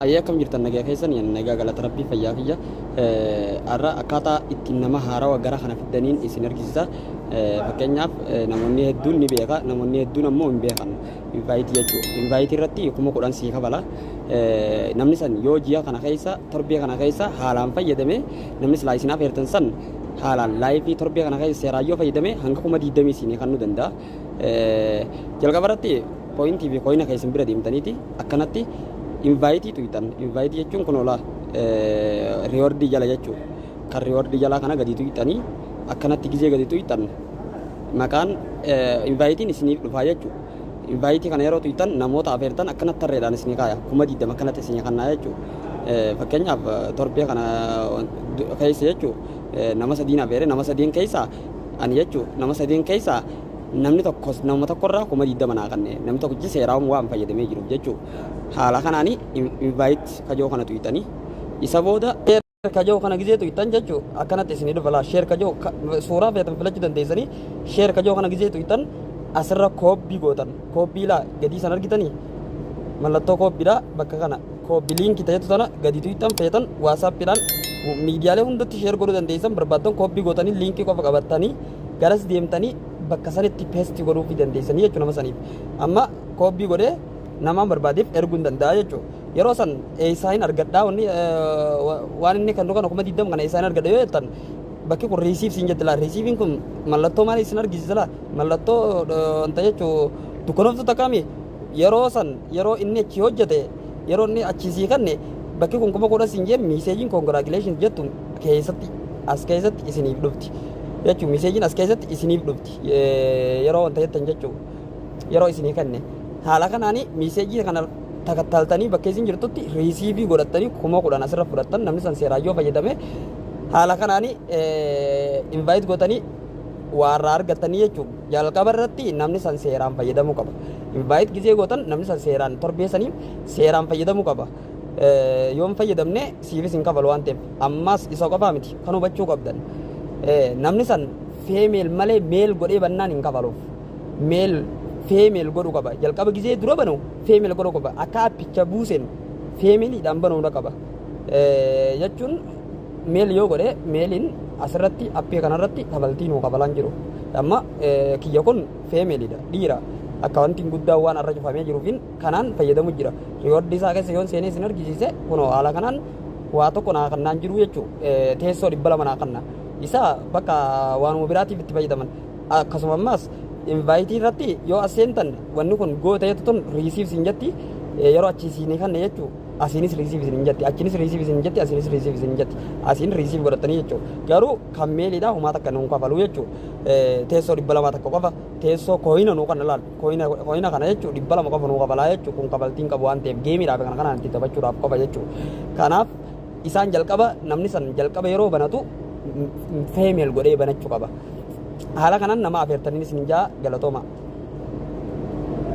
Hayyee akkam jirtan nagaya keessani ani nagaa galata rabbii fayyaa kiyya har'a akkaataa ittiin nama haarawa gara kana fiddaniin isin argisisa fakkeenyaaf namoonni hedduun ni beeka namoonni hedduun ammoo hin beekan invaayitii jechuu invaayitii irratti kuma kudhan sii kafala namni san yoo ji'a kana keessa torbee kana keessa haalaan fayyadame namni silaa isin afeertan san haalaan laayifii torbee kana keessa seeraan yoo fayyadame hanga kuma diidamii isin kennuu danda'a Jalqaba irratti pooyintii fi kooyina keessan bira deemtaniiti akkanatti invaayitii tuyxan. Invaayitii jechuun kun ola riiwardii jala jechuudha. Kan riiwardii jalaa kana gadi tuyxanii akkanatti gizee gadi tuyxan maqaan invaayitiin isiniif dhufaa jechuudha. Invaayitii kana yeroo tuyxan namoota afeertan akkanatti tarreedhaan isinii kaaya. Kuma 20 akkanatti isinii kannaa jechuudha. Fakkeenyaaf torbee kana keessa jechuudha nama sadiin afeere nama sadiin keessa Ani jechuun nama sadeen keessaa namni tokkos nama tokkorraa kuma 20 naa kanne namni tokkichi seeraawwan waan fayyadamee jiruuf jechuu haala kanaan invite kajoo kana tuyxanii isa booda share kajoo kana gizee tuyxan jechuu akkanatti isin dhufa laa share kajoo suuraa feetan filachuu dandeessanii share kajoo kana gizee tuyxan asirra koobbii gootan koobbii laa gadii san argitanii mallattoo koobbiidhaa bakka kana Kooppi liinki ta'etu tana gadi tuyxan feetan waasaappiidhaan miidiyaalee hundatti sheer godhuu dandeessan barbaaddan kooppi gootanii liinkii qofa qabattanii garas deemtanii bakka sanitti peesti godhuufii dandeessanii jechuudha nama saniif. Amma kooppi godhee namaan barbaadeef erguu hin danda'a jechuudha. Yeroo san eessaa hin argadhaa wanni waan inni kennu kana kuma digdama kana eessaa hin argadha yoo jettan bakki kun riisiif siin jetti laa riisiifiin kun mallattoo maalii isin argisiisa laa mallattoo wanta jechuu dukkanoftuu takkaami Yeroo san yeroo inni achii hojjate yeroo inni achii sii kanne bakki kun kuma kudha siin jeen miiseejiin congratulations jettu keessatti as keessatti isiniif dhufti jechuu miiseejiin as keessatti isiniif dhufti yeroo wanta jettan jechuu yeroo isinii kanne haala kanaani miiseejii kana takattaaltanii bakka isin jirtutti riisiivii godhattanii kuma kudhan asirra fudhattan namni san seeraan yoo fayyadame haala kanaani invaayit gootanii waarraa argattanii jechuudha. Jalqaba irratti namni san seeraan fayyadamuu qaba. Invite gizee gootan namni san seeraan torbee saniif seeraan fayyadamuu qaba. Eh, Yoo hin fayyadamne siifis hin kafalu waan ta'eef. Ammas isa qofaa miti kan hubachuu qabdan. Eh, Namni san female malee male godhee bannaan hin kafaluuf. Male female godhuu qaba. Jalqaba gizee dura banu female godhuu qaba. Akka appicha buusen femaleedhaan banuudha qaba. Eh, Jechuun meel yoo godhe meeliin asirratti appii kanarratti kabaltii nuu kabalaan jiru amma kiyya kun feemeelidha dhiira akka wanti guddaa waan irra cufamee jiruufin kanaan fayyadamu jira riiwardii isaa keessa yoon seenee isin argisiise kunoo haala kanaan waa tokko naa kannaan jiru jechuu teessoo dhibba lama naa kanna isa bakka waanuma biraatiif itti fayyadaman akkasuma ammaas invaayitii irratti yoo as seentan wanni kun gooteetu tun riisiif siin jetti yeroo achi siinii kanne jechuu asiinis riisiif isin hin jetti achinis riisiif isin hin jetti asiinis riisiif isin hin jetti asiin riisiif godhattanii jechuudha garuu kan meeliidha humaa takka nuun kafaluu jechuudha teessoo dhibba lamaa takka qofa teessoo kooyina nuu kana laal kooyina kooyina kana jechuudha dhibba lama qofa nuu kafalaa jechuudha kun kafaltiin qabu waan ta'eef geemiidhaaf kana kanaan itti taphachuudhaaf qofa jechuudha kanaaf isaan jalqaba namni san jalqaba yeroo banatu feemeel godhee banachuu qaba haala kanaan nama afeertaniin isin jaa galatooma.